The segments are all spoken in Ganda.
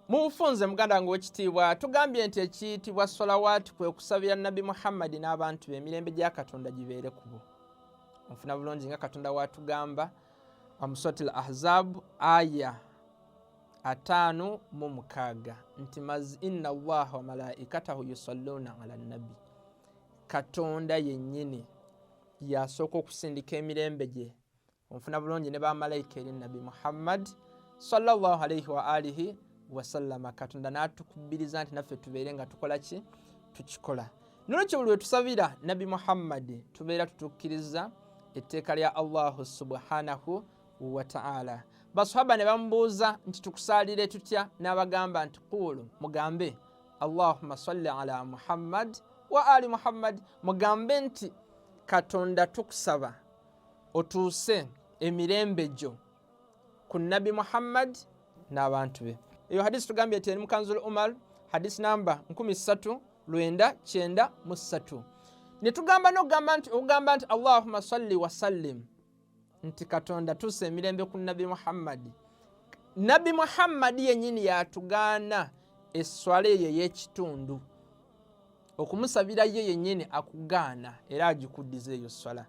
Mu bufunze muganda wange wekitiibwa tugambye nti ekiyitibwa solawaati kwe kusabira nabbi muhammadi n'abantu be emirembe gya katonda gibeere kubo onfuna bulungi nga katonda watugamba omusotil ahzabu aya ataano mu mukaaga nti inna allaha wamalaikatahu yusalluuna ala nabbi katonda yennyini yasooka okusindika emirembe gye onfuna bulungi ne bamalaika eri nabbi muhammad salllah alaihi waalihi wasallama katonda natukubiriza nti naffe tubeere nga tukola ki tukikola nolwekyo buli wetusabira nabbi muhammadi tubeera tutukkiriza etteeka lya allahu subhanahu wataala baswaba ne bamubuuza nti tukusaalire tutya n'abagamba nti kuulu mugambe allahuma salli ala muhammad wa ali muhammad mugambe nti katonda tukusaba otuuse emirembe gyo ku nabbi muhammad n'abantu be eyo hadisi tugambye nti eri mukanzul umar hadisi namba 3993 netugamba nokugamba nti okugamba nti allahuma salli wasallim nti katonda tuusa emirembe ku nabbi muhammadi nabbi muhammadi yenyini yatugaana eswala eyo eyekitundu okumusabira ye yenyini akugaana era agikuddiza eyo swala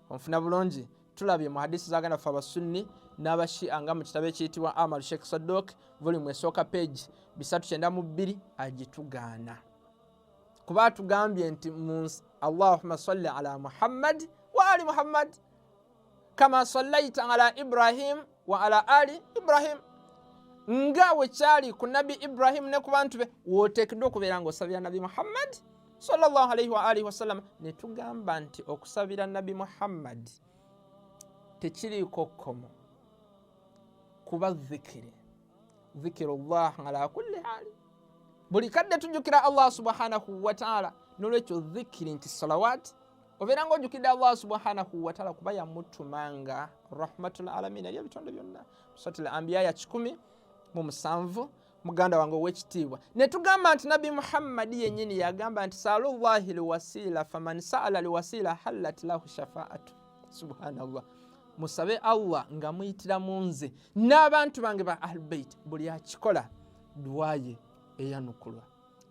onfuna bulungi tulabye mu hadisi zaganda ffe abasunni n'abashia nga mu kitabo ekiyitibwa amal sheikh sadok volumu esooka page bisatu kyenda mu bbiri agitugaana kuba atugambye nti allahuma salli ala muhammad wa ali muhammad kama sallaita ala ibrahim wa ala ali ibrahim nga wekyali ku nabbi ibrahimu ne ku bantu be woteekeddwa okubeera nga osabira nabbi muhammadi salllah alaihi waalihi wasallama ne tugamba nti okusabira nabbi muhammadi tekiriiko kkomo kuba zikiri zikiru llah ala kulli haali buli kadde tujjukira allah subhanahu wataala nolwekyo zikiri nti salawaati obeera nga ojukidde allah subhanahu wataala kuba yamutumanga rahmatul alamin eri ebitonde byonna suratul ambiya ya kikumi mu musanvu muganda wange owekitiibwa netugamba nti nabbi muhammadi yenyini yagamba nti salu llahi liwasiila faman saala liwasiila hallat lahu shafaatu subhanallah musabe allah nga muyitira mu nze n'abantu bange ba ahlubeit buli akikola duwaye eyanukulwa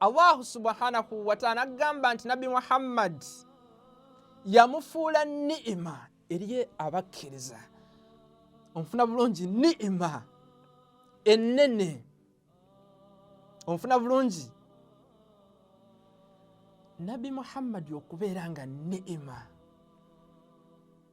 allahu subhanahu wataala agamba nti nabbi muhammadi yamufuula ni'ima eriye abakkiriza onfuna bulungi ni'ima ennene onfuna bulungi nabbi muhammadi okubeera nga ni'ima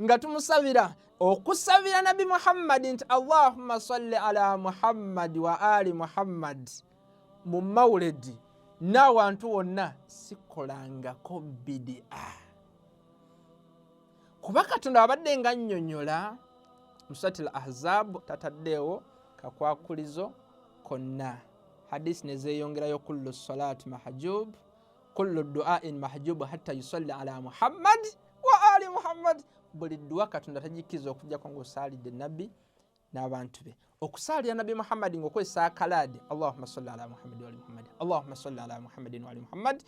nga tumusabira okusabira nabi muhammadi nti allahumma salli ala muhammadi wa ali muhammadi mu mawuledi n'awantu wonna sikolangako bidia kuba katonda wabadde nga nnyonyola musati l ahzabu tataddeewo kakwakulizo konna hadisi nezeeyongerayo kullu salaati mahajubu kullu duain mahjubu hatta yusalli ala muhammad wa ali muhammad buli dduwa katonda tagikkiriza okujjako ngaosaalidde nabbi n'abantu be okusaalira nabbi muhammadi ngaokozesa akalaadi allahuma salli ala muhammadi wali muhammadi allahuma salli ala muhammadin wali muhammadi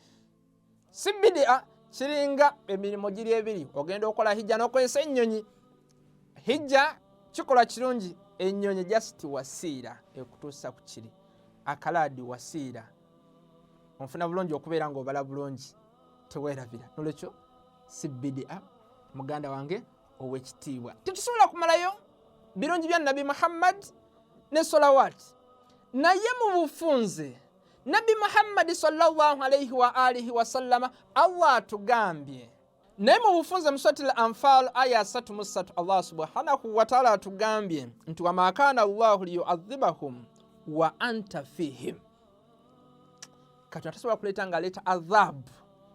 si bidia kiringa emirimu giri ebiri ogenda okola hijja n'okozesa ennyonyi hijja kikolwa kirungi ennyonyi jasiti wasiira ekutuusa ku kiri akalaadi wasiira onfuna bulungi okubeera nga obala bulungi tewerabira nolwekyo si bidia muganda wange owekitiibwa tetusobola kumalayo birungi bya nabi muhammad ne solawat naye mu bufunze nabi muhammadi sallallahu alaihi wa alihi wasallama allah atugambye naye mu bufunze musatile anfal aya asatu mu ssatu allah subhanahu wataala atugambye nti wamakana llahu liyuadhibahum wa anta fihim katonda tasobola kuleeta nga aleeta adhabu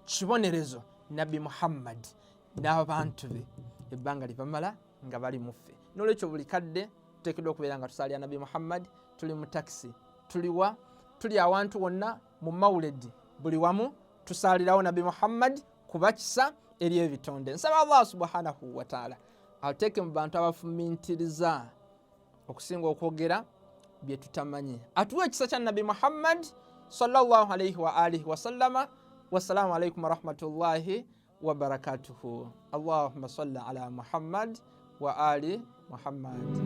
kibonerezo nabbi muhammadi n'abantu be ebbanga libamala nga bali muffe nolwekyo buli kadde tuteekeddwa okubeera nga tusaalira nabbi muhammadi tuli mu takisi tuliwa tuli awantu wonna mu mawuledi buli wamu tusaalirawo nabbi muhammadi kuba kisa eri ebitonde nsaba allah subhanahu wataala ateeke mu bantu abafumintiriza okusinga okwogera byetutamanyi atuwa ekisa kya nabbi muhammad salllah alaihi waalihi wasallama wassalamu alaikum warahmatullahi wabarakatuhu allahuma salli ala muhammad wa ali muhammad